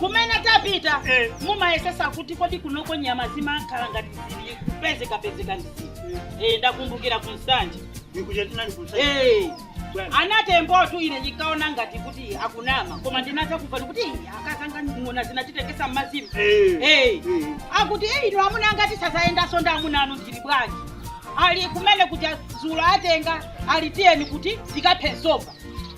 kumene tapita Eh. mumayesesa kuti kodi kunoko nyama zimakhala ngati zili kupezekapezeka ndi zili Eh, ndakumbukira ku Nsanje Nikuchetina nikusa. Eh. Bwana. anaTembotu ine ndikaona ngati kuti akunama koma ndinatha kumva kuti "Ih, akazanga ng'ona zinatitengesa mmazimu Eh. Eh. Eh. akuti "Eh, ine amuna angatu sazayendaso ndi amuna anu ndili bwanji ali kumene kuti zulo atenga ali tiyeni kuti tikaphe nsomba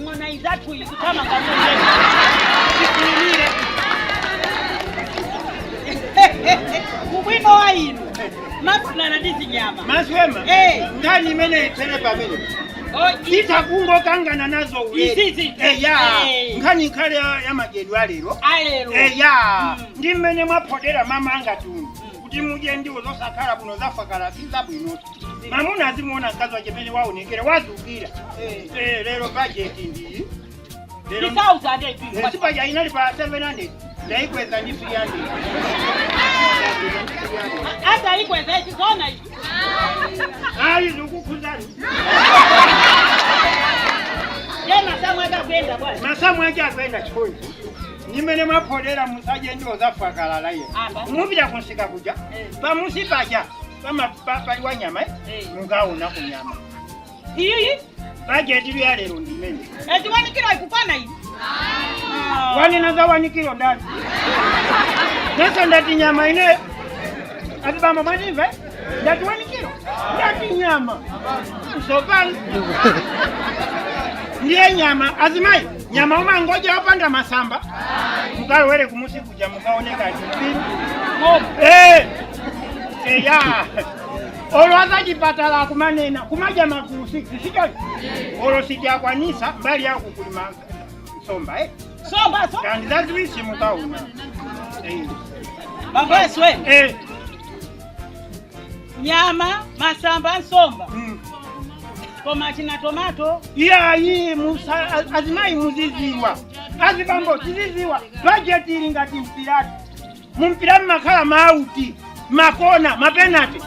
ng'ona izathu ikutama kamuze ikulire ubwino wa inu mafuna ndi zinyama maswema Eh. nkhani imene itsere pamene Oh, i- itha kungokangana nazo ulere. Izizi. Eh, ya Eh. nkhani ikhale ya ya madyedwe alero alero Eh, ya Mm. ndi mmene mwaphodera mama angatu kuti mudye ndiwo zosakhala bwino zafakala si zabwino mamuna azimuona mkazi wache mene waonekera wazukira Eh. Eh, lero bajeti ndiyi lero ndi sauzande Eh, si paja inali pa 700 ndaikweza ndi 300 hata ikweza ichi zona ichi ayi zikukhuzani ye masamu ake akuenda bwana masamu ache akuenda chikoyi ndi mmene mwaphodera musadye ndiwo zafakalala iye Apa. mupita kunsika kuja Eh. pamusi paja pamapaliwa nyama eh? Eh. mukaona ku nyama iyiyi bajeti yalero ndimene eti 1 kilo ikukwana iyi wanena za 1 kilo ndani nese ndati nyama ine ati bambo mwanimva ndati 1 kilo ndati nyama sopano ndiye nyama azimayi nyama umangodya wapanda masamba mukalowere kumusika mukaone ngati Eh! eya olo azachipatala akumanena kumadya magulu sisi sicho olo sijakwanisa mbali yako kulima nsomba eh? Somba so. kandi zaziwisi mukaona Eh. Baba wewe. Eh. nyama masamba nsomba koma china tomato iyayi musa- azimayi muziziwa azibambo tiziziwa bajeti ili ngati mpirati mumpira mmakhala mauti makona mapenati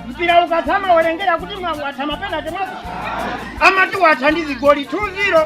mpira ukatha mawerengera kuti mwa- watha mapenati mwati amati watha ndi zigoli 2-0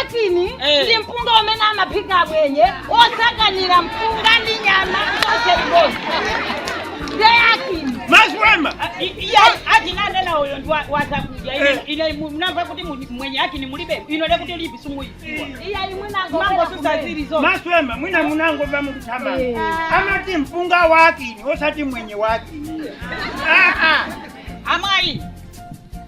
akini Eh. ndi mpunga umene amaphika amwenye osakanira mpunga ndi nyama zonse limodzi nde akini maswema atinanena uyo ndi wa- wazakudya Ine- Eh. ine mu- mnamva kuti mu- mwenye akini mulibe ino lekuti ulipi simuyiziwa iya imwinango mangosusa zili zonse maswema mwina munangomva mukuthamanga Eh. amati mpunga wakini osati mwenye wakini aa amayi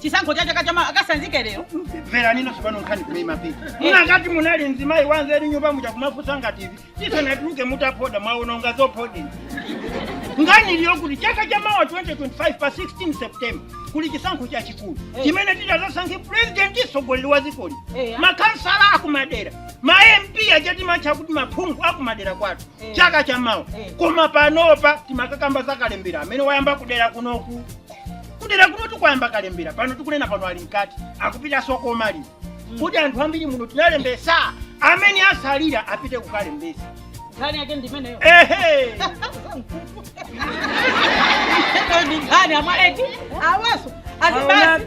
chisankho cha chaka chamawa akasanzike lero mverani ine tsopano nkhani kumene imapita munangati munali mzimayi wanzeri nyumba muja kumafusa ngati TV tisanatuluke mutaphoda mwaononga zophodazo nkhani ili yokuti chaka cha mawa 2025 pa 16 september kuli chisankho chachikulu chimene titazasankhe purezidenti mtsogoleri wa dzikoli Eh. makhansala akumadera ma mp aja timawatcha kuti maphungu akumadera kwathu Eh. chaka cha mawa Eh. koma panopa timakakamba za kalembera amene wayamba kudera kunoku kudera kunotu kwayamba kalembera pano tikunena pano ali mkati akupitanso kokamaliza kuti anthu ambiri munotu munalembesa amene asalira apite kukalembesa nkhani yake ndimeneyo ehe ndi nkhani amwaleki awaso azibasi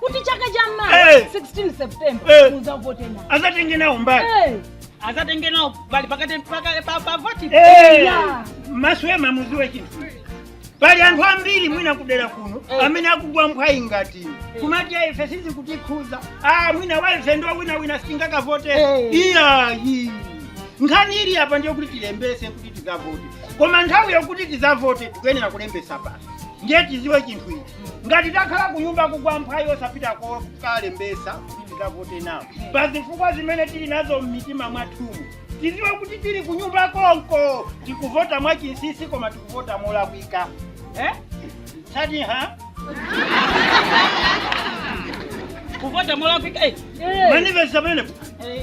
kuti chaka cha mawa Eh. 16 september Eh. muzavote nawo azatenge nawo mbali Eh, azatenge nawo mbali pakati paka- pa- pa voti Eh, Yeah. maswema muziwe chinthu pali anthu ambiri mwina kudera kuno Eh. amene akugwa mphwayi ngati inu. kumati "Ah, ife sizikutikhuza ah mwina waife ndi winawina sitingakavote Eh. iyayi nkhani ili apa ndi yokuti tilembese kuti tizavote koma nthawi yokuti tizavote tikuyenera kulembesa basi ndiye tiziwe chinthu ichi ngati takhala ku nyumba kugwa mphwayi osapita kokalembesa kuti tikavote nawo pa zifukwa zimene tili nazo m'mitima mwathumu tiziwe kuti tili ku nyumba konko tikuvota mwachinsisi koma tikuvota molakwika eh? sati ha kuvota molakwika eh. mundimvetse pamenepo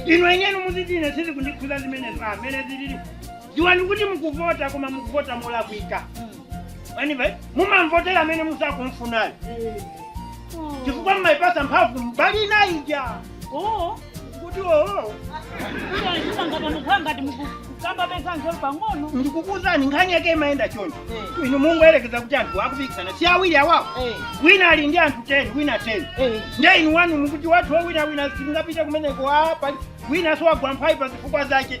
inu eni eni muziti ine sizikundikhuza zimenezo mmene zilili dziwani kuti mukuvota koma mukuvota molakwika mwina mumamvotera amene musakumfunayo chifukwa mumaipasa mphamvu mbali inayi ija oo kuti oo ngati mukukamba za nzeru pang'ono ndikukuzani nkhani yake imayenda choncho Eh. inu tingoyerekeza kuti anthu akupikisana si awiri awawo Eh. wina ali ndi anthu 10 wina 10 Eh. nde inu wanu mukuti wathu sawinawina sindingapite kumeneko apa pali winaso wagwa mphwayi pa zifukwa zake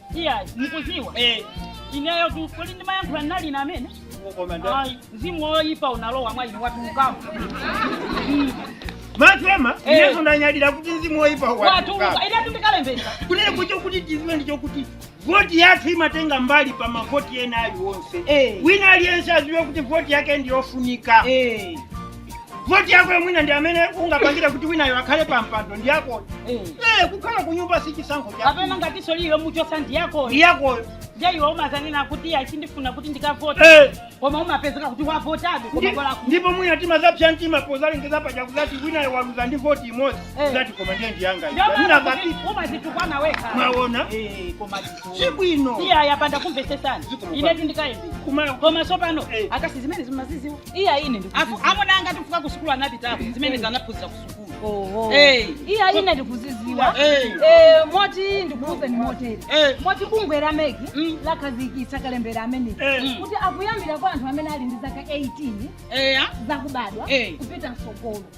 Iya, ndikuziwa. Eh. Ineyotu ndili ndi mayankho anali na amene. Ai, mzimu woyipa unalowa mwa inu watuluka. matswema Eh. ineso ndanyadira kuti mzimu woyipa Watu watuluka. inetu ndikalembesa. kunena choncho kuti tiziwe ndi chokuti voti yathu imatenga mbali pa mavoti ena aliwonse Eh. wina aliyense aziwe kuti voti yake ndiyofunika Eh. voti yakoyo mwina ndi imene ingapangire kuti winayo akhale pa mpando ndi yakoyo eh kukhala ku nyumba si chisankho chako kapena ngatiso ili yomuchosa ndi yakoyo ndi yakoyo ndiye iwe umazanena kuti ayi sindifuna kuti ndikavote eh koma umapezeka kuti wavotabe koma Ndi- kola ndipo mwina timazapsa mtima pozalengeza paja kuzati winayo waluza ndi voti imodzi Eh. kuzati koma ndiye ndiyanga iyi. Mwina ndiye basi umazitukwana weka mwaona Eh, koma zitu- si bwino iya yapanda kumvesesana Ziko mupanda. inetu ndikaimbi Kuma- koma sopano Eh. akasi zimene simaziziwa iya ine Afu- ndikuziziwa amuna anga chifukwa ku sukulu anapitako zimenezi anaphunzira ku sukulu oho Eh. iya ine ndikuziziwa Eh. Eh, moti ndikuuzeni moteri Eh. moti bungwe la MEC Mm. lakhazikitsa kalembera amene Eh. kuti akuyambira kwa anthu amene ali ndi zaka 18 eya zakubadwa Eh. kupita mtsogolo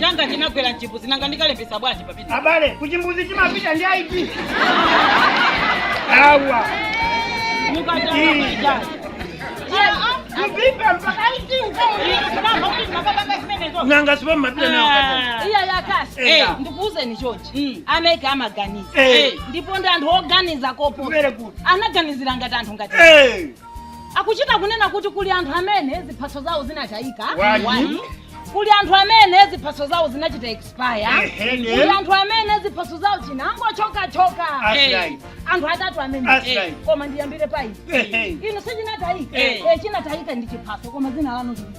changa chinagwera mchimbuzi nanga ndikalembesa bwanji papita abale kuchimbuzi timapita ndi ID awa mukachaaaa kuvipa mpaka ID nanga sipo mumapita nawo kata iya yakasi Eh. ndikuuzeni chonchi Mm. a MEC amaganiza Eh. ndipo ndi anthu oganiza koposa Kumere kuti. anaganizira ngati anthu ngati Eh. akuchita kunena kuti kuli anthu amene ziphaso zawo zinatayika Wani. Wani. kuli anthu amene ziphaso zawo zinachita expire Ehene. kuli anthu amene ziphaso zawo zinangochokachoka Asai. anthu atatu amene Asai. koma ndiyambire pa izi Ehe. inu sichinatayika Eh. Eh, chinatayika ndi chiphaso koma dzina lanu lili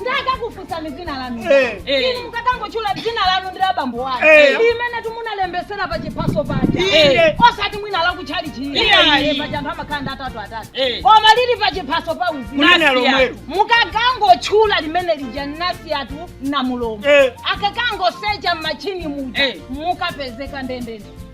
nde akakufunsani dzina lanu Eh. inu mukakangotchula dzina lanu ndi la bambo wanu Eh. limenetu munalembesera pa chiphaso paja Inde. osati mwina la kutchalichi Iyayi. paja anthu amakhala ndi atatu atatu Eh. koma lili pa chiphaso pa unzika Kunena Nasiya. lomwelo. mukakangotchula limene lija nasiyatu na mulombo Eh. akakangosecha m'matchini muja Eh. mukapezeka ndendende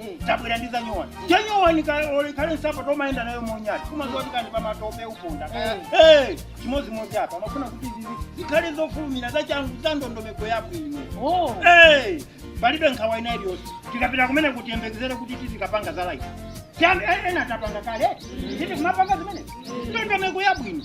Eh. tabwera ndi zanyowani chanyowani kalekale nsapato yomayenda nayo monyada kumazoti kani pamatope uponda kaya Eh, chimodzimodzi apa amafuna kuti zizi zikhale zofulumira zachangu za ndondomeko yabwino Oh. Eh, palibe nkhawa ina iliyonse tikapita kumeneku tiyembekezere kuti tizikapanga za life Tiyambi- eh, ena tapanga kale titi kumapanga zimene ndondomeko yabwino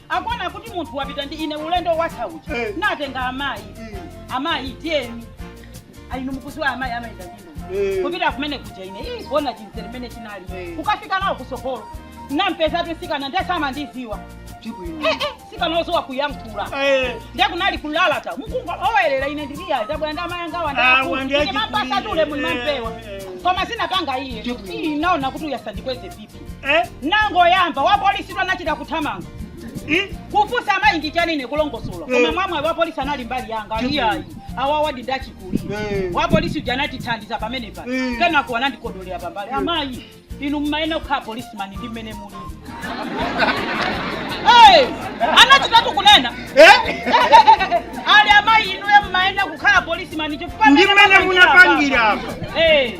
akuona kuti munthu wapita ndi ine ulendo watha uja Eh. natenga amayi Mm. amayi tiyeni ayi inu mukuziwa amayi amayenda ndi ndodo Eh. kupita kumene kuja ine ii kuona chimzere mmene chinali Eh. kukafika nawo kusogolo nampeza tusikana nde samandiziwa Tibwino. eh, eh, msikana oziwa kuyankhula Eh, ndiye kunali kulalata mukungolowerera ine ndili iyayi ndabwera ndi amayi anga Ah, wandiye wandamapasatule muli eh, mampewa eh. koma sinapanga iye Tibwino. ndinaona kuti uyu asandikweze BP eh? nangoyamba wapolisitu anachita kuthamanga Eh? kufunsa amayi ndi chani ine kulongosola Eh. koma mwamwayi wapolisi anali mbali yanga ali iyayi awawadi ndi achikulire Eh. wapolisi uja anatithandiza pamenepa Eh. kenako anandikodolera pambali amayi inu mmayenera kukhala policeman ndi mmene muli Eh, anachitatu kunena Eh? ali amayi inuyo mmayenera kukhala policeman chifukwa Ndi mmene munapangira apa. Eh.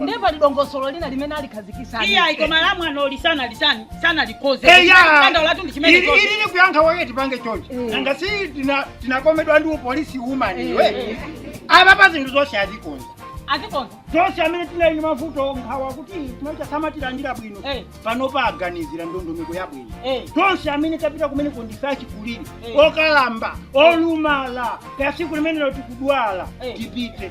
ndiye pali dongosolo lina limene alikhazikisa iyayi koma la mwana oli sana lisani sana likoze Eya! kanda ulatu ndi chimene Ili- koze ili ni kuyankha wake tipange choncho nanga si tina- tinakomedwa ndi police woman iwe apa pa zinthu zonse azikonza azikonza zonse amene tinali ndi mavuto nkhawa kuti tikacha samatilandira bwino Eh. pano aganizira ndondomeko yabwino Eh. tonse amene tapita kumene kondife achikulire Eh. okalamba olumala kaya siku limenelo tikudwala Eh. tipite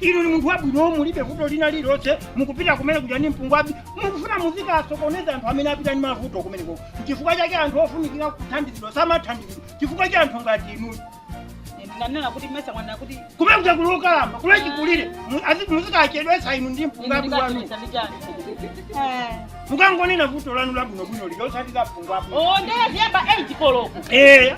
inu ni munthu wabwino mulibe vuto lina lililonse mukupita kumene kuja ni mpungwabi mukufuna muzika asokoneza anthu amene apita ni mavuto kumeneko chifukwa chake anthu ofunikira kuthandizidwa samathandizidwa chifukwa cha anthu ngati inu ndinganena kuti mesa mwana kuti kumene kuja kuli okalamba kuli achikulire Mu- azi- muzikachedwetsa inu ndi mpungwabi wanu ndikachitanichani mukangonena vuto lanu labwinobwino lilosati la mpungwabi o nde iziyamba 8 koloko eya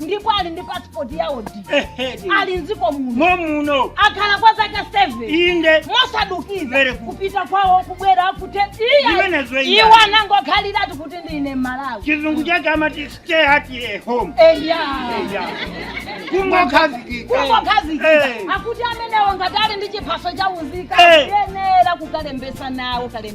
ndipo ali ndi pasipoti yawo Ehedi. ali mdziko muno Mwa muno. akhala kwa zaka 7 Inde. mosadukiza Very good. kupita kwawo kubwera kuti Zimenezo iya. iwo anangokhaliratu kuti ndine Mmalawi Chizungu chake amati stay at a home. eya Eya. Kungokhazikika. kungokhazikika Eh. akuti amenewo ngati ali ndi chiphaso cha unzika Eh. kuyenera kukalembesa nawo kalembera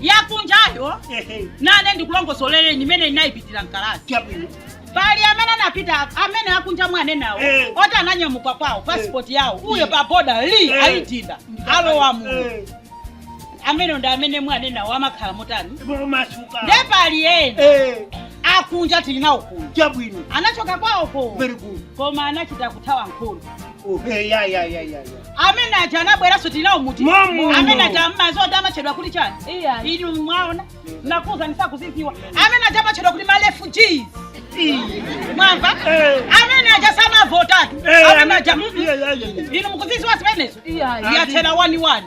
yakunjayo Ehe. nane ndikulongosolere imene ndinayipitira mkalasi Chabwino. pali amene anapita amene akunja mwamuna wanga Eh. oti ananyamuka kwawo pasipoti yawo uyo pa boda li Eh. ayidinda alowa muno Eh, amene ndi amene mwamuna wanga amakhala motani momasuka. nde pali ena Eh, akunja tili nawo kuno chabwino. anachoka kwawoko Very good. koma anachita kuthawa nkhondo Okay, ya ya ya ya. amene aja anabweranso tili nawo muno Mamu. amene aja mmadziwa amatchedwa kuti chani Iya. ili mwaona ndakuuza simukuziziwa amene aja amatchedwa kuti marefugees mwamva Eh. amene aja samavotatu Eh, amene aja mm, mm. Yeah, yeah, yeah, yeah. inu mukuziziwa zimenezo Iya. yathera waniwani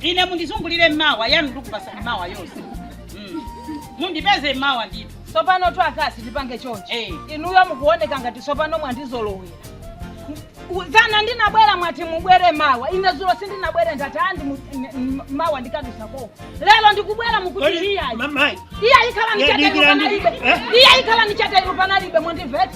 ine mundizungulire mmawa yanu ndikupasani mawa yomwe Mm. mundipeze mmawa ndithu tsopano tu wa akazi tipange chonchi Eh. inuyo mukuoneka ngati tsopano mwandizolowera U- dzana ndinabwera mwati mubwere mawa ine zulo sindinabwere ndati andi mu- n- n- mawa ndikadusa koko lero ndikubwera mukuti iyayi mamayi iya ikhala Ya, nichata dikira ilu ndi- panalibe eh? iya ikhala nichata ilu panalibe mundivete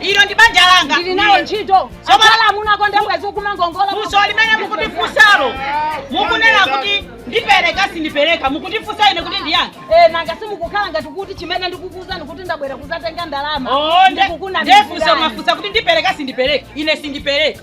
ilo ndi banja langa ndili nawo ntchito akhala amuna okonda mwezi ukumangongola funso limene mukutifunsalo mukunena kuti ndipereka sindipereka mukutifunsa ine kuti ndiyankhe Eh, nanga simukukhala ngati kuti chimene ndikukuuzani kuti ndabwera kuzatenga ndalama Oh, nde- Ndikukunamizirani. ndefunso mwafunsa kuti ndipereka sindipereka ine sindipereka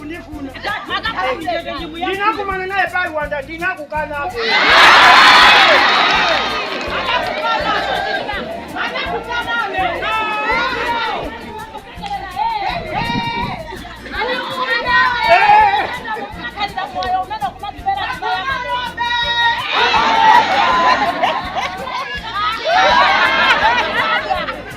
kundifuna ndinakumana naye pa gulu anthu ndinakukanapo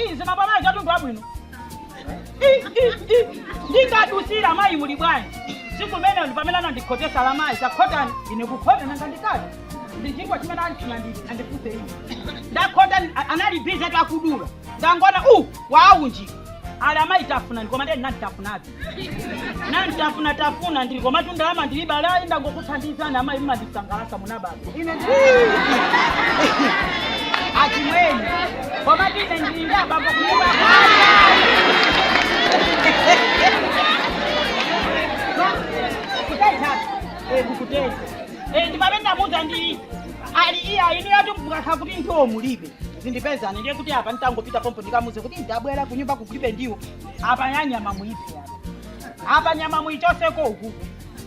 Ii, zinapambana za mtundu wabwino Ii, ii, ii. ndinkadutsira mayi muli bwanji tsiku limenelo ndi pamene anandikhotetsa ali amayi takhotani ine kukhota nanga ndikati ndi chinthu chimene ati andifunse ine ndakhota a- anali busy akudula ndangoona waunjika ali amayi tafunani koma ndiye ndinangotafunabe nditatafuna tafuna ndili komatu ndalama ndilibe ali ayi ndangokuthandizani amayi mumandisangalatsa muli ndi ababa ine ndi achimwene komatu ine ndili ndi ababa kunyumba kuteza ndi abambo Muza ndi ali iya inu mukakhala kuti ndiwo mulibe zindipezani ndiye kuti apa nditangopita pompo ndikamuze kuti ndabwera kunyumba kukulibe ndiwo apa yanyama muiphe apa apa nyama muichoseko uku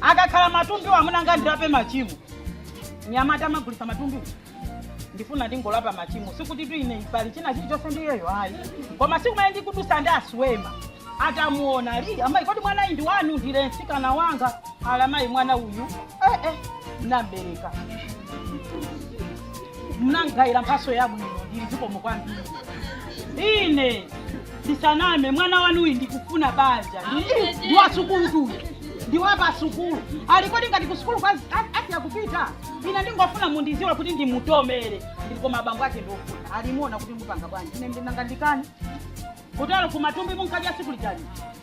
akakhala matumbiwo amuna anga ndilape machimo nyama tamagulisa matumbiwo ndifuna ndingolapa machimo sikutitu ine pali china chilichonse ndiyeyo ayi koma tsiku limene ndikudutsa ndi a Siwema atamuona ali amayi kodi mwana uyu ndi wanu ndili ee mtsikana wanga ali amayi mwana uyu eh, eh, munabereka munandigayira mphatso yabwino ndili zikomo kwambiri ine ndisaname mwana wanuyu ndikufuna banja Ndi- ndi wa sukulutu uyu ndi wa pa sukulu ali kodi ngati ku sukulu kwazi- a- asiya kupita ine ndingofuna mundidziwe kuti ndimutomere ndili koma abambo ake ndikufuna ali muona kuti mupanga bwanji ine ndinangandikane kutero koma matumbo munkadya siku lijali